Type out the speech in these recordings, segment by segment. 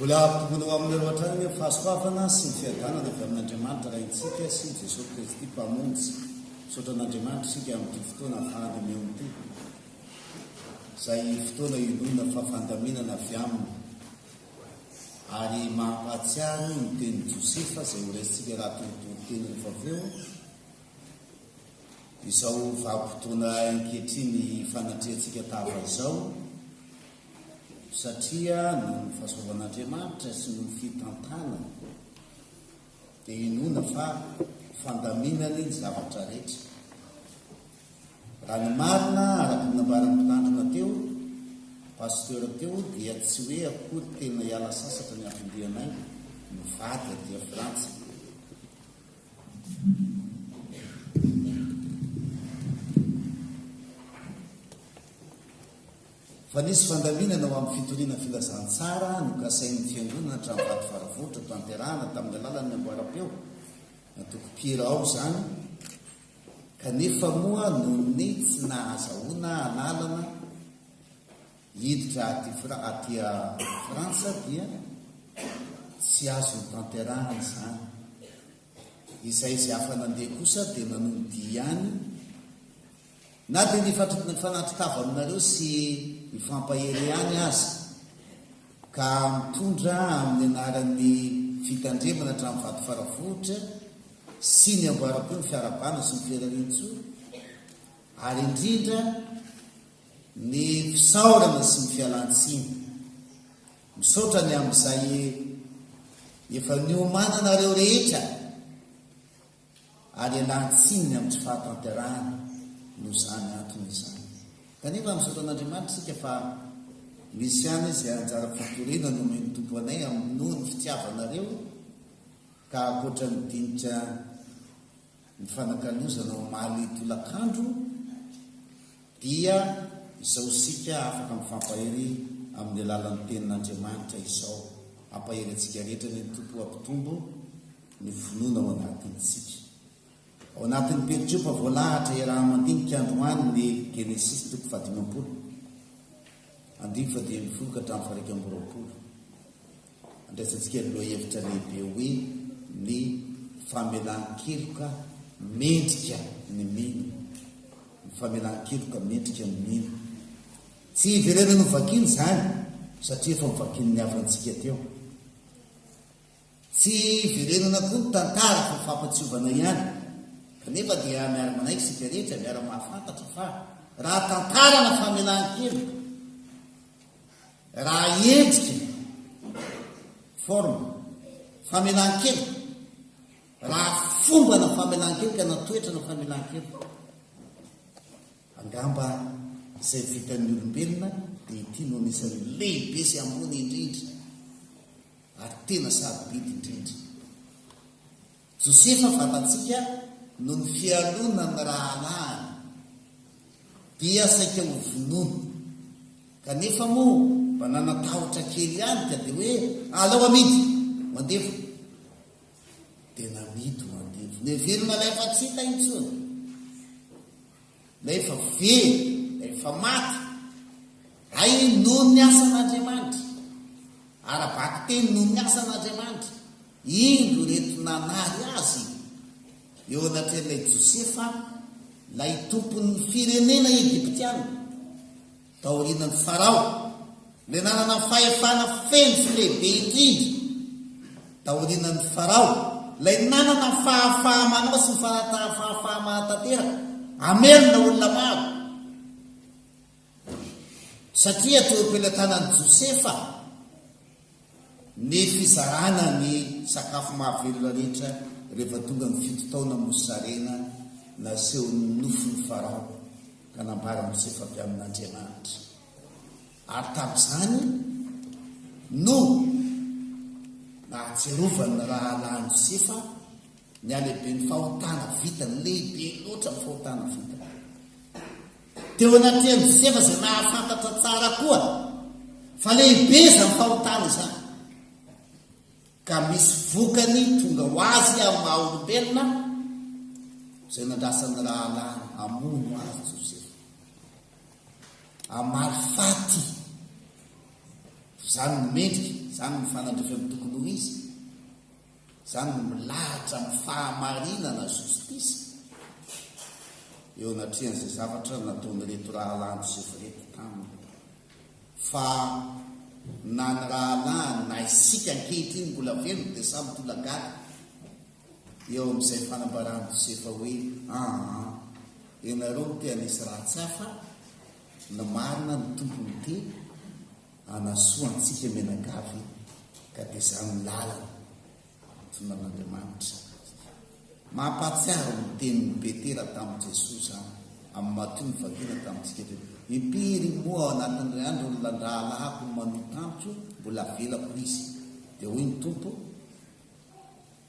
Mbola hampitombona ho aminareo hatrany ny fahasoavana sy ny fiadanana avy amin'Andriamanitra Raintsika sy Jesoa Kristy Mpamonjy. Misaotra an'Andriamanitra isika amin'ity fotoana hafahana mihaona ity, izay fotoana inoana fa fandaminana avy Aminy, ary mampahatsiaro ny tenin'i Josefa izay horaisintsika raha torotoro teny rehefa avy eo, Izao vanim-potoana ankehitriny fanatrehantsika tahaka izao, satria noho ny fahasoavan'Andriamanitra sy noho ny fitantanany, dia inoana fa fandaminany ny zavatra rehetra. Raha ny marina, araka ny nambaran'ny mpitandrina teo, pasteur teo, dia tsy hoe akory tena hiala sasatra ny hafindrianay, mivady aty Frantsa. Fa nisy fandaminana ho amin'ny fitoriana filazantsara nokasain'ny Fiangonana hatramin'ny vatovaravotra hotanterahana tamin'ny alalan'ny amboaram-peo, natokom-pihira ao izany, kanefa moa noho ny tsy nahazahoana an'alana, Hiditra aty Fra aty Frantsa dia tsy azo notanterahana izany. Izay izay afa nandeha kosa dia nanolo dia ihany na dia nifatr nifanatri-tava aminareo sy nifampahery ihany aza ka mitondra amin'ny anaran'ny fitandremana hatramin'ny vato faravohitra sy ny amboaram-peo ny fiarahabana sy ny fihirariantsoa ary indrindra Ny fisaorana sy ny fialantsiny. Misaotra ny amin'izay efa niomananareo rehetra ary ialantsininy amin'ny tsy fahatanterahana noho izany antony izany. Kanefa misaotra an'Andriamanitra isika fa misy ihany izay anjara fitoriana nomen'ny Tompo anay amin'ny noho ny fitiavanareo ka ankoatra ny dinika Mifanakalozana omaly tolakandro dia izao isika afaka mifampahery amin'ny alalan'ny Tenin'Andriamanitra izao, Hampahery antsika rehetra anie ny Tompo hampitombo ny finoana ao anatintsika. Ao anatin'ny pericope voalahatra iaraha-mandinika androany ny Genesisy toko fahadimampolo andininy fahadimy ambin'ny folo ka hatramin'ny faha iraika amby roapolo. Andraisantsika ny lohahevitra lehibe hoe ny famelan-keloka mendrika ny mino. Ny famelan-keloka mendrika ny mino. Tsy hiverenany ho vakina izany satria efa novakian'ny havantsika teo. Tsy hiverenana koa ny tantara fa fampatsiovana ihany. Kanefa dia miara-manaiky isika rehetra, miara-mahafantatra fa raha tantara na famelan-keloka, Raha endrika, forme, famelan-keloka, raha fomba na famelan-keloka na toetra na famelan-keloka, angamba izay vitan'ny olombelona dia ity no anisan'ny lehibe sy ambony indrindra ary tena sarobidy indrindra. Josefa fantatsika no ny fialona ny rahalahiny dia saika ho vonoina kanefa moa mba nanatahotra kely ihany ka dia hoe alao amidy ho andevo dia namidy ho andevo neverina ilay afa-tsy hita intsony Ilay efa very, ilay efa maty. Hay noho ny asan'Andriamanitra. Ara-bakiteny noho ny asan'Andriamanitra. Indro ireto nanary azy eo anatrehan'ilay Josefa, ilay tompon'ny firenena Egyptiana. Taorianan'i Farao, ilay nanana ny fahefana feno sy lehibe indrindra, taorianan'i Farao, ilay nanana ny fahafaha-manao sy ny fahafaha-mahatanteraka, hamelona olona maro. Satria teo am-pelatanan'i Josefa ny fizarana ny sakafo mahavelona rehetra rehefa tonga ny fito taona mosarena nasehon'ny nofon'i Farao. nanambara Josefa avy amin'Andriamanitra, ary tamin'izany no nahatsiarovan'ny rahalahiny Josefa ny halehiben'ny fahotana vitany, lehibe loatra ny fahotana vitany. Teo anatrehan'i Josefa izay nahafantatra tsara koa fa lehibe izany fahotana izany. ka misy vokany tonga ho azy amin'ny maha-olombelona izay nandrasan'ny Rahalahiny hamono azy Josefa, hamaly faty. Izany no mendrika, izany no fanandrifany tokony ho izy, izany no milahatra amin'ny fahamarinana, justice, eo anatrehan'izay zavatra nataon'ireto rahalahiny Josefa ireto taminy. Fa na ny rahalahiny na isika ankehitriny mbola velona dia samy tolagaga eo amin'izay fanambaran-dosie fa hoe aa ianareo no te hanisy ratsy hafa, ny marina ny Tompo no te hanasoa antsika mianakavy ka dia izany ny lalana. Antonan'Andriamanitra izato dia. Mampahatsiaro ny tenin'i Petera tamin'i Jesoa izany, amin'ny matoa nivadiana tamintsika teo. Impiry moa ao anatin'ilay andro no nandrahalahako ny manohy tamiko, mbola avelako izy. Dia hoy ny Tompo,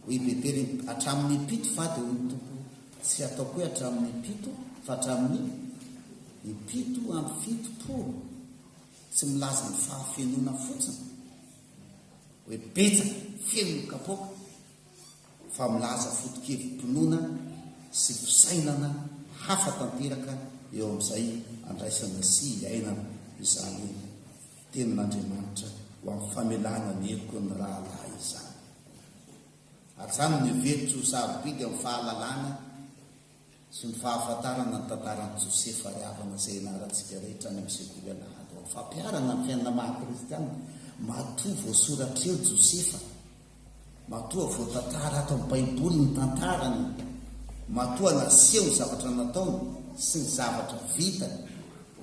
hoy i Petera, hatramin'ny impito fa, dia hoy ny Tompo, tsy hataoko hoe hatramin'ny impito, fa hatramin'ny impito amby fitopolo. Tsy milaza ny fahafenoana fotsiny, hoe betsaka feno ny kapoaka fa milaza foto-kevi-pinoana sy fisainana hafa tanteraka eo amin'izay andraisana sy iainana izany io tenin'Andriamanitra ho amin'ny famelana ny heloka ny rahalahy izany. Ary izany no heveriko tsy ho sarobidy amin'ny fahalalana sy ny fahafantarana ny tantaran'i Josefa ary havana izay ianarantsika rehetra any amin'ny Sekoly Alahady ho an'ny Fampiharana ny Fiainana Maha-Kristianina. Matoa voasoratra eo Josefa, matoa voatantara ato amin'ny Baiboly ny tantarany, matoa naseho ny zavatra nataony sy ny zavatra vitany,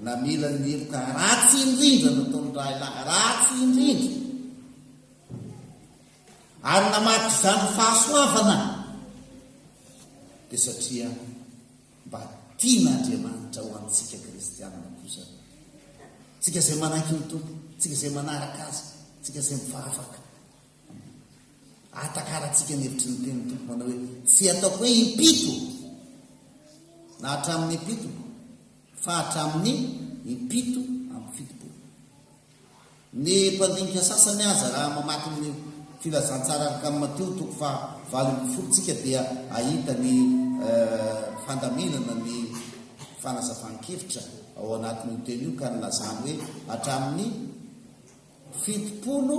namela ny heloka ratsy indrindra nataon'ny rahalahy ratsy indrindra, Ary namadika izany fahasoavana dia satria mba tian'Andriamanitra ho antsika kristianina kosa tsika izay manaiky ny Tompo, tsika izay manaraka azy, tsika izay mifahafaka. Ahatakarantsika ny hevitry ny teny Tompo manao hoe tsy ataoko hoe impito na hatramin'ny impito fa hatramin'ny impito amby fitopolo. Ny mpandinika sasany aza raha mamaky ny Filazantsara Arkan'i Matio toko faha valo ambin'ny folo tsika dia ahita ny fandaminana ny fanazavan-kevitra ao anatin'io teny io ka nilazany hoe hatramin'ny fitopolo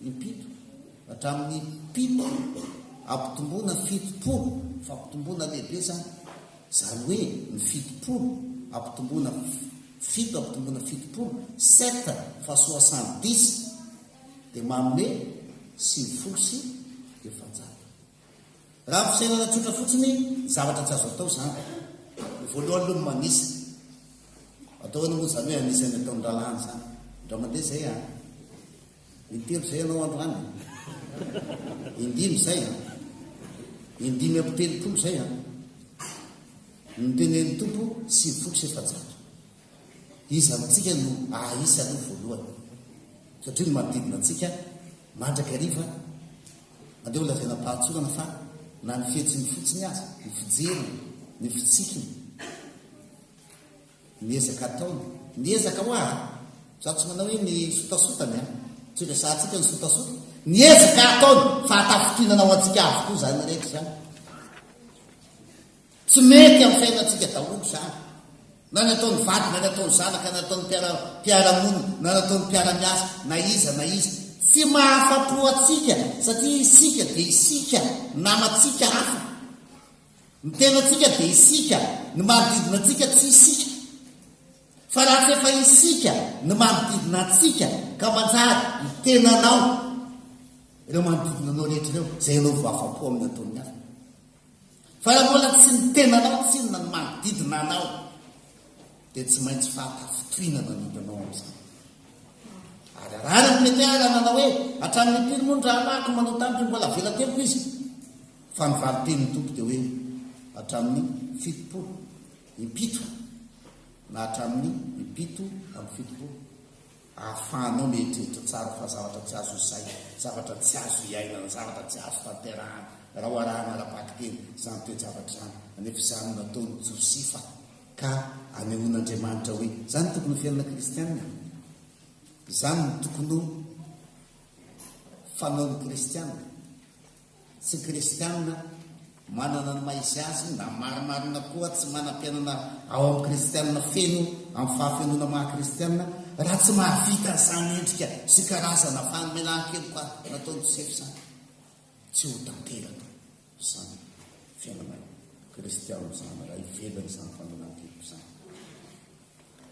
impito hatramin'ny pito ampitomboana fitopolo fampitomboana lehibe izany izany hoe ny fitopolo ampitomboana fito amby dimampolo fitopolo, sept fa soixante dix, dia manome sivifolo sy efajato. Raha amin'ny fisainana tsotra fotsiny, zavatra tsy azo atao izany. Ny voalohany aloha ny manisa. Atao ahoana moa izany hoe anisa ny ataon'ny rahalahy an'izany? Indray mandeha izay an! Intelo izay ianao androany e. Indimy izay an. Indimy amby telopolo izay an. Ny tenen'ny Tompo sivy folo sy efajato. Iza amintsika no ahaisa aloha voalohany? Satria ny manodidina antsika mandrakariva andeha ho lazaina am-pahatsorana fa na ny fihetsiny fotsiny aza, ny fijeriny, ny fitsikiny, Ny ezaka ataony. Ny ezaka hoa a! Izaho tsy manao hoe ny sotasotany a! Tsy resahantsika ny sotasota. Ny ezaka ataony! Fahatafintinana ho antsika avokoa izany rehetra izany. Tsy mety amin'ny fiainantsika daholo izany. Na ny ataon'ny vady, na ny ataon'ny zanaka, na ny ataon'ny mpiara, mpiara-monina, na ny ataon'ny mpiara-miasa, na iza na iza. Tsy mahafa-po antsika satria isika dia isika, namantsika hafa. Ny tenantsika dia isika, ny manodidina antsika tsy isika. Fa raha tsy efa isika, ny manodidina antsika, ka manjary ny tenanao, ireo manodidina anao rehetra ireo, izay ianao vao afa-po amin'ny ataon'ny hafa. Fa raha mbola tsy ny tenanao, tsy inona ny manodidina anao. dia tsy maintsy fanta fitohina manimba anao amin'izany. Ary arahana ny mety ala nanao hoe hatramin'ny impiry moa ny rahalahiko manao tamiko ny mbola avela tempo izy. Fa ny valin-tenin'ny tompo dia hoe hatramin'ny fitopolo impito na hatramin'ny impito amin'ny fitopolo ahafahanao mieritreritra tsara fa zavatra tsy azo izay, zavatra tsy azo iainana, zavatra tsy azo tanterahana raha ho arahana ara-bakiteny izany toe-javatra izany, anefa izany nataon'i Josifa. ka anehoan'Andriamanitra hoe izany tokony ho fiainana kristiana e! izany no tokony ho fanaon'ny kristiana, tsy kristiana manana ny maha izy azy na marimarina koa tsy manam-piainana ao amin'ny kristiana feno amin'ny fahafenoana maha kristiana raha tsy mahavita izany endrika sy karazana fanomenan-keloka nataon'i Josefa izany tsy ho tanteraka. izany fiainana kristianina izany, raha hivelona izany famelan-keloka izany.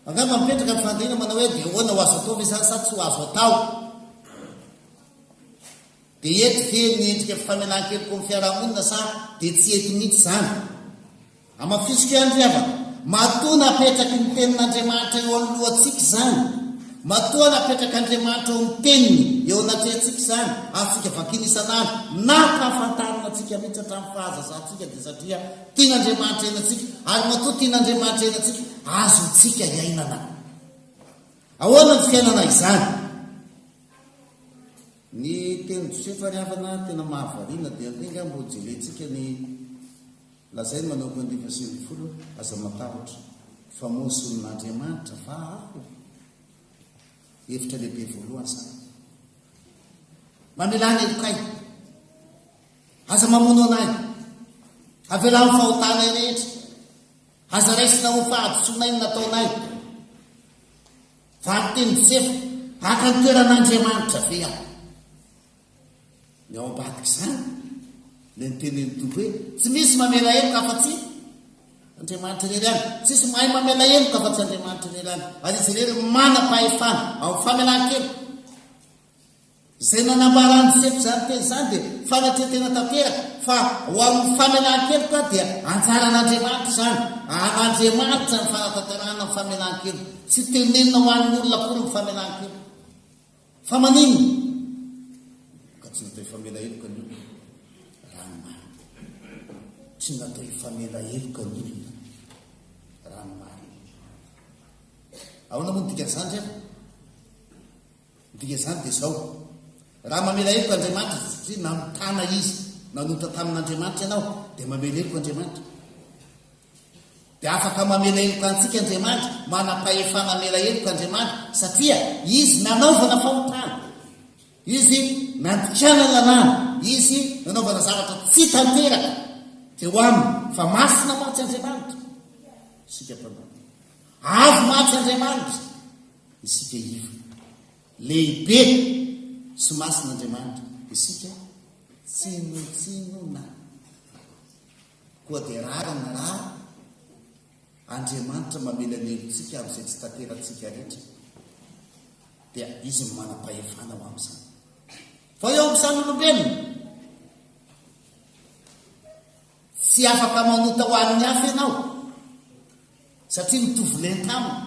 Angamba mipetraka ny fandriana manao hoe dia ahoana ho azo atao ve izany sa tsy ho azo atao? Dia eto ve ny endrika famelan-keloka amin'ny fiarahamonina sa dia tsy eto mihitsy izany? Amafisiko ihany ry havana, matoa napetraky ny Tenin'Andriamanitra eo anoloantsika izany, matoa napetrak'Andriamanitra ao amin'ny Teniny eo anatrehantsika izany, azontsika vakina isan'andro na ampahafantarina antsika mihitsy hatramin'ny fahazazantsika dia satria tian'Andriamanitra hiaina antsika, ary matoa tian'Andriamanitra hiaina antsika, azontsika iainana. Ahoana ny fiainana izany? Ny tenin'i Josefa ry havana tena mahavariana, dia andeha angaha mba hojerentsika ny. Lazainy manomboka ny dimy sy ambin'ny folo, Aza matahotra, fa mozon' Andriamanitra va aho? Hevitra lehibe voalohany izany. Mamelà ny helokay. Aza mamono anay. Avelà ny fahotanay rehetra. Aza raisina ho fahadisoanay ny nataonay. Valin-teny Josefa, haka ny toeran'Andriamanitra ve aho? Ny ao ambadik'izany, ilay nitenin'ny Tompo hoe, tsy misy mamela heloka afa-tsy Andriamanitra irery ihany. Tsy misy mahay mamela heloka afa-tsy Andriamanitra irery ihany. Ary izy irery manam-pahefana ao amin'ny famelan-keloka. Izay nanambaran'ny Josefa izany teny izany dia fanatretena tanteraka fa ho amin'ny famelan-keloka dia anjaran'Andriamanitra izany. An'Andriamanitra ny fanatanterahana ny famelan-keloka. Tsy tenenina ho an'ny olona akory ny famelan-keloka. Fa maninona? Ka tsy natao hifamela heloka ny olona raha ny marina. Tsy natao hifamela heloka ny olona raha ny marina. Ahoana moa ny dikan'izany ry an? Ny dikan'izany dia izao. Raha mamela heloka Andriamanitra satria nanontana izy, nanonta tamin'Andriamanitra ianao, dia mamela heloka Andriamanitra. Dia afaka mamela heloka antsika Andriamanitra, manam-pahefana hamela heloka Andriamanitra, satria Izy nanaovana fahotana, Izy nandikana lalàna, Izy nanaovana zavatra tsy tanteraka teo aminy, fa masina mantsy Andriamanitra, isika mpanao. Avo mantsy Andriamanitra, isika iva. Lehibe sy masina Andriamanitra, isika tsinotsinona. Koa dia rariny na Andriamanitra mamelanelo tsika amin'izay tsy tanteratsika rehetra dia izy no manam-pahefana ho amin'izany. Fa eo amin'izany olombelona, tsy afaka manota ho an'ny hafa ianao satria mitovy lenta aminy.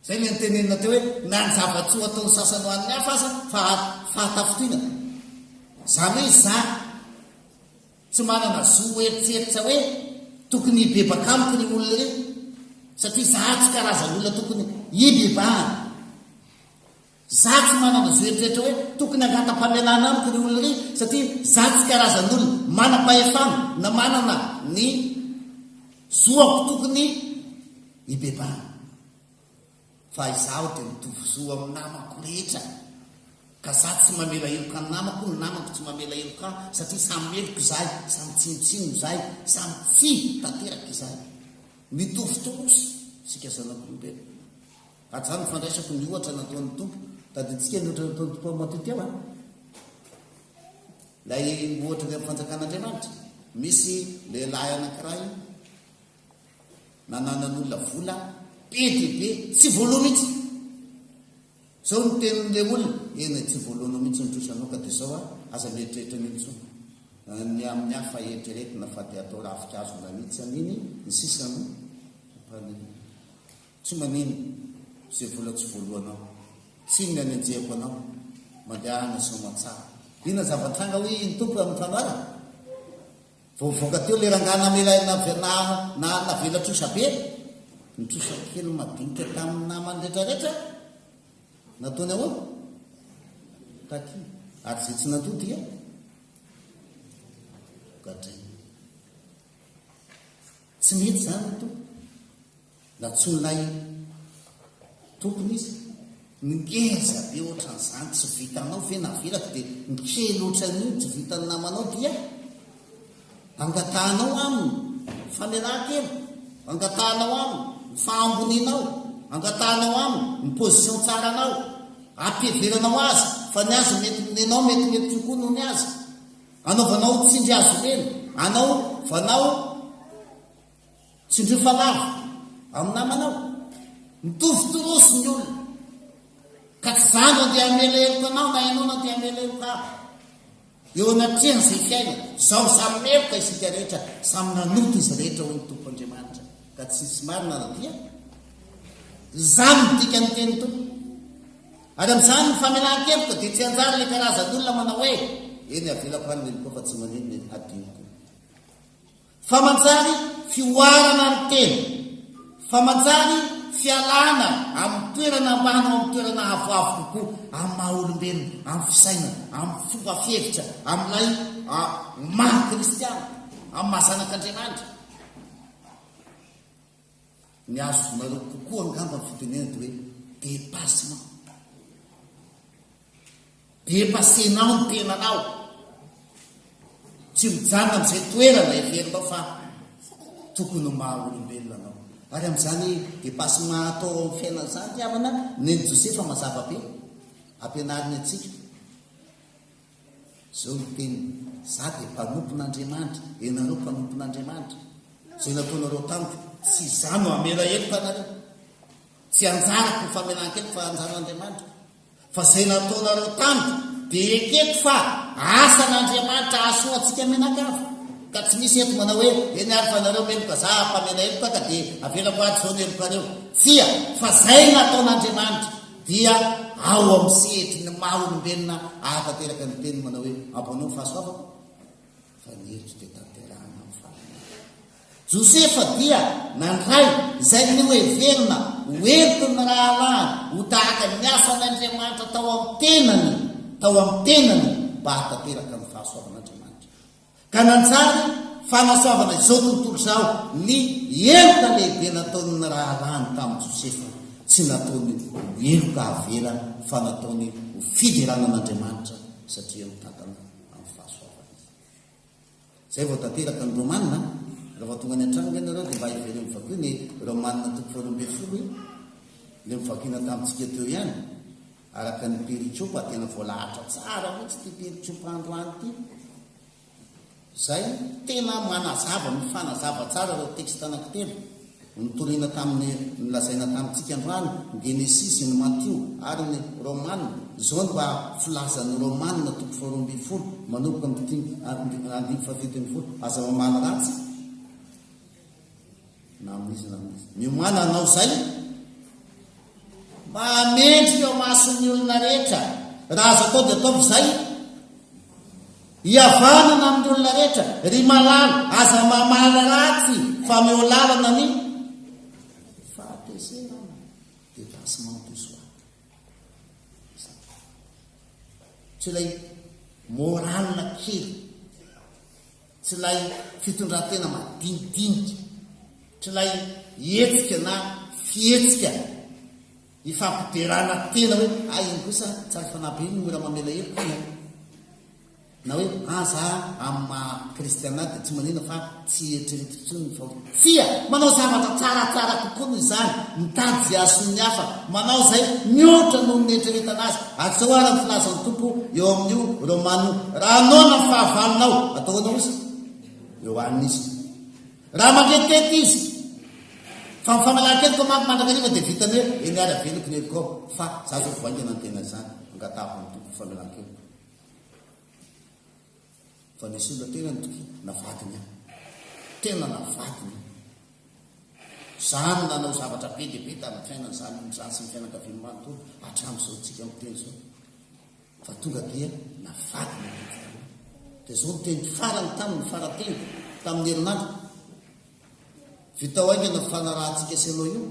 Izay ny antenenina teo hoe na ny zava-tsoa ataon'ny sasany ho an'ny hafa aza fa fahatafotoinana. Izany hoe izaho Tsy manana zo hoeritseritra hoe tokony hibebaka amiko ry olona ry, satria za tsy karazan'olona tokony hibebahana. Za tsy manana zo hoeritseritra hoe tokony hangata-pamelana amiko ry olona ry, satria za tsy karazan'olona manam-pahefana na manana ny zoako tokony hibebahana. fa izaho dia mitovy zo amin'ny namako rehetra ka za tsy mamela heloka ny namako, ny namako tsy mamela heloka ahy satria samy meloka izahay, samy tsinontsinono izahay, samy tsihy tanteraka izahay. Mitovy torosy isika zanak'olombelona. Hatraho ny fandraisako ny ohatra nataon'ny Tompo. Tadidintsika ny ohatra nataon'ny Tompo amin'i Matio teo an. Ilay ohatra avy amin'ny fanjakan'Andriamanitra. Misy lehilahy anankiray nananan'olona vola be dia be tsy voaloha mihitsy zao ny tenin'ilay olona eny tsy voalohanao mihitsy ny trosa anao ka dia zao a aza mieritreritra an'io intsony ny amin'ny hafa eritreretina fa dia atao rafi-kazo nanitsy an'iny ny sisa no ampaniny tsy manino izay vola tsy voalohanao tsy ny anenjehako anao mandehana somatsara ina zava-tranga hoe iny tompo amin'ny fanoharana Vao voaka teo ilay rangahy namela ahy nave, na, na, navela trosa be. Nitrosa kely madinika tamin'ny namany rehetrarehetra aho. Nataony ahoana? Takia. Ary izay tsy nandoa dia gadraina. Tsy mety izany ny tompo. Nantsoinay tompony izy, Ngeza be ohatran'izany tsy vitanao ve navelako dia ny kely ohatran'iny tsy vitan'ny namanao dia angatahanao aminy famelan-keloka, angatahanao aminy ny fahambonianao, angatahanao aminy ny position tsaranao, ampiheveranao azy fa ny azy mety nenao mety mety kokoa noho ny azy, anaovanao tsindry hazo lena, anaovanao Tsindrio fanamby amin'ny namanao. Mitovy toroso ny olona, ka tsy izaho no andeha hamela heloka anao na ianao no andeha hamela heloka ahy. Eo anatrehan'izay fiainana izao, samy meloka isika rehetra, samy nanota izy rehetra, hoy ny Tompo Andriamanitra, ka tsy hisy marina na dia. Izany no dikan'ny tenin'ny Tompo. Ary amin'izany ny famelan-keloka dia tsy hanjary ilay karazan'olona manao hoe, Eny, avelako any ny helokao fa tsy maninona e, hadinoko. Fa manjary fihoarana ny tena, fa manjary fialana amin'ny toerana ambany ho amin'ny toerana avoavo kokoa amin'ny maha olombelona, amin'ny fisainana, amin'ny fomba fihevitra, amin'ilay maha kristiana, amin'ny maha zanak'Andriamanitra. Ny azonareo kokoa angamba ny fitenenana dia hoe dépassement. Depassenao ny tenanao. Tsy mijanona amin'izay toerana heverinao fa tokony ho maha olombelona anao. Ary amin'izany depassement atao ao amin'ny fiainana izany ry havana, nen'i Josefa mazava be. Ampianariny antsika. Izao ny teniny, Izaho dia mpanompon'Andriamanitra, ianareo mpanompon'Andriamanitra. Izay nataonareo tamiko, tsy izaho no hamela heloka anareo. Tsy anjarako ny famelan-keloka fa anjaran'Andriamanitra. Fa izay nataonareo tamiko dia ekeko fa asan'Andriamanitra hahasoa antsika mianakavy. Ka tsy misy eto manao hoe, Eny ary fa nareo meloka, za mpamela heloka ka dia avelako ary izao ny helokareo. Tsia, fa izay nataon'Andriamanitra dia ao amin'ny sehatry ny maha olombelona ahatanteraka ny teniny manao hoe, Ampanaovy fahasoavako, fa ny heloka dia tanterahina amin'ny fahalalana. Josefa dia nandray izay noheverina ho entin' ny rahalahiny ho tahaka ny asan' Andriamanitra tao amin'ny tenany tao amin'ny tenany mba hahatanteraka ny fahasoavan' Andriamanitra, ka nanjary fanasoavana izao tontolo izao ny heloka lehibe nataon' ny rahalahiny tamin'i Josefa, tsy nataony ho heloka avela fa nataony ho fiderana an' Andriamanitra satria mitantana amin'ny fahasoavany izy. Zay vao tanteraka ny Romana, raha vao tonga any an-trano ve nareo dia mba hevereo mivakio ny Romana toko faharoa ambin'ny folo e? Ilay novakiana tamintsika teo ihany, araka ny Periciopa, tena voalahatra tsara mihitsy ity Periciopa androany ity. Zay tena manazava, mifanazava tsara ireo texte anankitelo. Nitoriana tamin'ny nolazaina tamintsika androany ny Genesisy, ny Matio ary ny Romana. Izao no mba filazan'ny Romana toko faharoa ambin'ny folo manomboka amin'ny dimy andininy fahafito ambin'ny folo, Aza mamaly ratsy na amin'iza na amin'iza. Miomàna hanao izay. Mahamendrika eo mason'ny olona rehetra raha azo atao dia ataovy izay. Hihavanana amin'ny olona rehetra. Ry malala, aza mamaly ratsy fa meo lalana ny fahatezerana, dépassement de soi. Tsy ilay morale kely. Tsy ilay fitondran-tena madinidinika, tsy ilay hetsika na fihetsika ifampiderana tena hoe hay iny kosa tsara fanahy be ny ora mamela heloka iny an! na hoe aza amin'ny maha kristiana ahy dia tsy maninona fa tsy eritreretiko intsony ny fahotana. Tsia, manao zavatra tsaratsara kokoa noho izany, mitady izay hahasoa ny hafa, manao izay mihoatra noho ny nieritreretana azy. Asao àry ny filazan'ny Tompo eo amin'io Romano, Raha noana ny fahavalonao, atao ahoana hoy Izy? Eo aminy Izy. Raha mangetihety Izy, fa ny famalan-keloka manko mandrakariva dia vitany hoe, Eny ary aveloko ny helokao, fa izaho izao vao haingana ny tena izany, angatahako amin'ny Tompo ny famelan-keloka. Vao nisolo tena ny toky na vadiny aho. Tena na vadiny aho. Izaho no nanao zavatra be dia be tamin'ny fiainany, izaho no nizary sy ny fianakaviany manontolo hatramin'izao tsika miteny izao. Fa tonga dia na vadiny aho toky taloha. Dia izao ny teniko farany taminy, ny fara-teniko tamin'ny herinandro. Vitao haingana ny fanarahantsika sy ianao io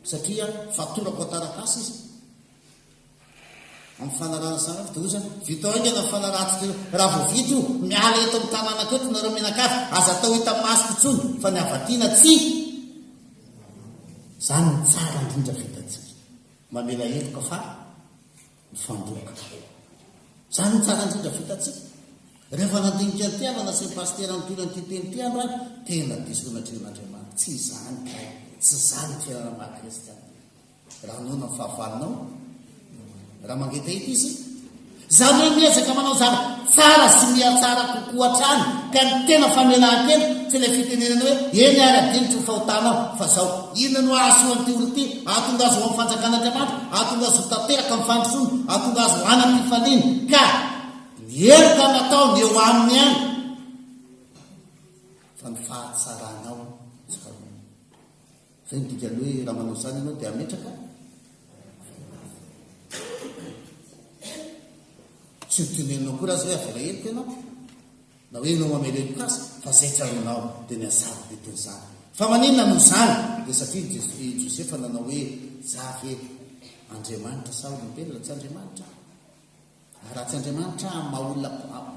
satria fatorako an-taratasy izy. Amin'ny fanarahana sahady dia hoy izany, Vita haingana ny fanarahantsika io. Raha vao vita io, miala eto amin'ny tanànako eto ianareo mianakavy. Aza atao hitan'ny masoko intsony fa ny avy aty na tsia. Izany no tsara indrindra vitantsika. Mamela heloka fa mifandoka. Izany no tsara indrindra vitantsika. Rehefa nandinika an'ity aho nanasy ny pasitera nitory an'ity teny ity andro aho, tena diso nahatrehin'Andriamanitra. Tsy izany kay. Tsy izany ny fiainana maha-kristiana. Raha noana ny fahavalonao, raha mangetaheta izy, izany hoe miezaka manao zara tsara sy mihatsara kokoa hatrany ka ny tena famelan-kena tsy ilay fitenenana hoe eny ary adinotry ny fahotanao fa zao inona no hahasoa an'ity olona ity ahatonga azy ho amin'ny fanjakan'Andriamanitra ahatonga azy ho tanteraka amin'ny fandrosoana ahatonga azy ho anam-pifaliana ka ny heloka nataony eo aminy ihany fa ny fahatsaranao Izay no dikan'ny hoe raha manao izany ianao dia hametraka Tsy ho tenenina akory aza hoe avela heloka ianao na hoe ianao mamela heloka azy fa izay tsy azonao dia ny azabo dia toy izany. Fa maninona no izany? Dia satria i Jesosy i Josefa nanao hoe za ve Andriamanitra sa olombelona? Tsy Andriamanitra aho. Ratsy Andriamanitra amin'ny maha olona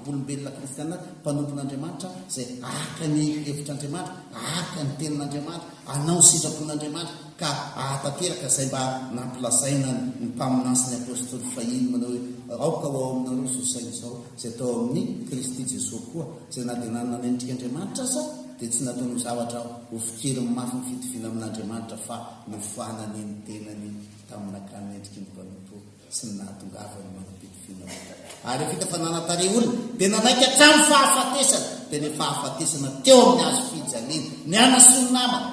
olombelona kristiana mpanompon'Andriamanitra izay araka ny hevitr'Andriamanitra, araka ny tenin'Andriamanitra, hanao ny sitrapon'Andriamanitra ka hahatanteraka izay mba nampilazaina ny mpaminany sy ny apostoly fahiny manao hoe, Aoka ho ao aminareo izao saina izao izay tao amin'i Kristy Jesoa koa, izay na dia nanana endrika Andriamanitra aza dia tsy nataony ho zavatra ho fikeriny mafy ny fitoviana amin'Andriamanitra fa nofoanany ny tenany tamin'nakany endriky ny mpanompo. sy ny nahatongavany mampidi-finoana vokany. Ary vita fa nanan-tarehy olona, dia nanaiky hatramin'ny fahafatesana, dia ny fahafatesana teo amin'ny hazo fijaliana, ny hanasoa ny namana,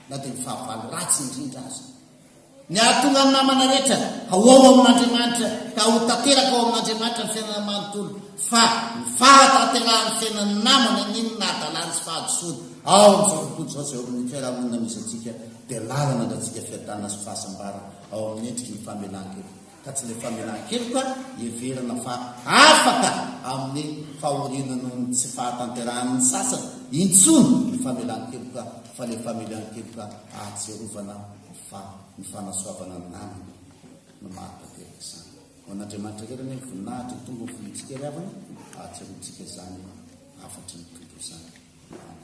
na dia ny fahavalo ratsy indrindra aza, ny hahatonga ny namana rehetra ho ao amin'Andriamanitra, ka ho tanteraka ao amin'Andriamanitra ny fiainana manontolo, fa ny fahatanterahan'ny fiainan'ny namana ny inona hadalany sy fahadisoany ao amin'izao tontolo izao izay eo amin'ny fiarahamonina misy antsika, dia lalana andratsika fiadanana sy fahasambarana. ao amin'ny endriky ny famelan-keloka, ka tsy ilay famelan-keloka heverina fa afaka amin'ny fahoriana noho ny tsy fahatanterahan'ny sasany intsony ny famelan-keloka, fa ilay famelan-keloka ahatsiarovana fa ny fanasoavana ny namana no mahatanteraka izany. Ho an'Andriamanitra irery anie ny voninahitra, ny tombony vonintsikelry havana, ahatsiarovitsika izany hafatry ny tontolo izany. Amen.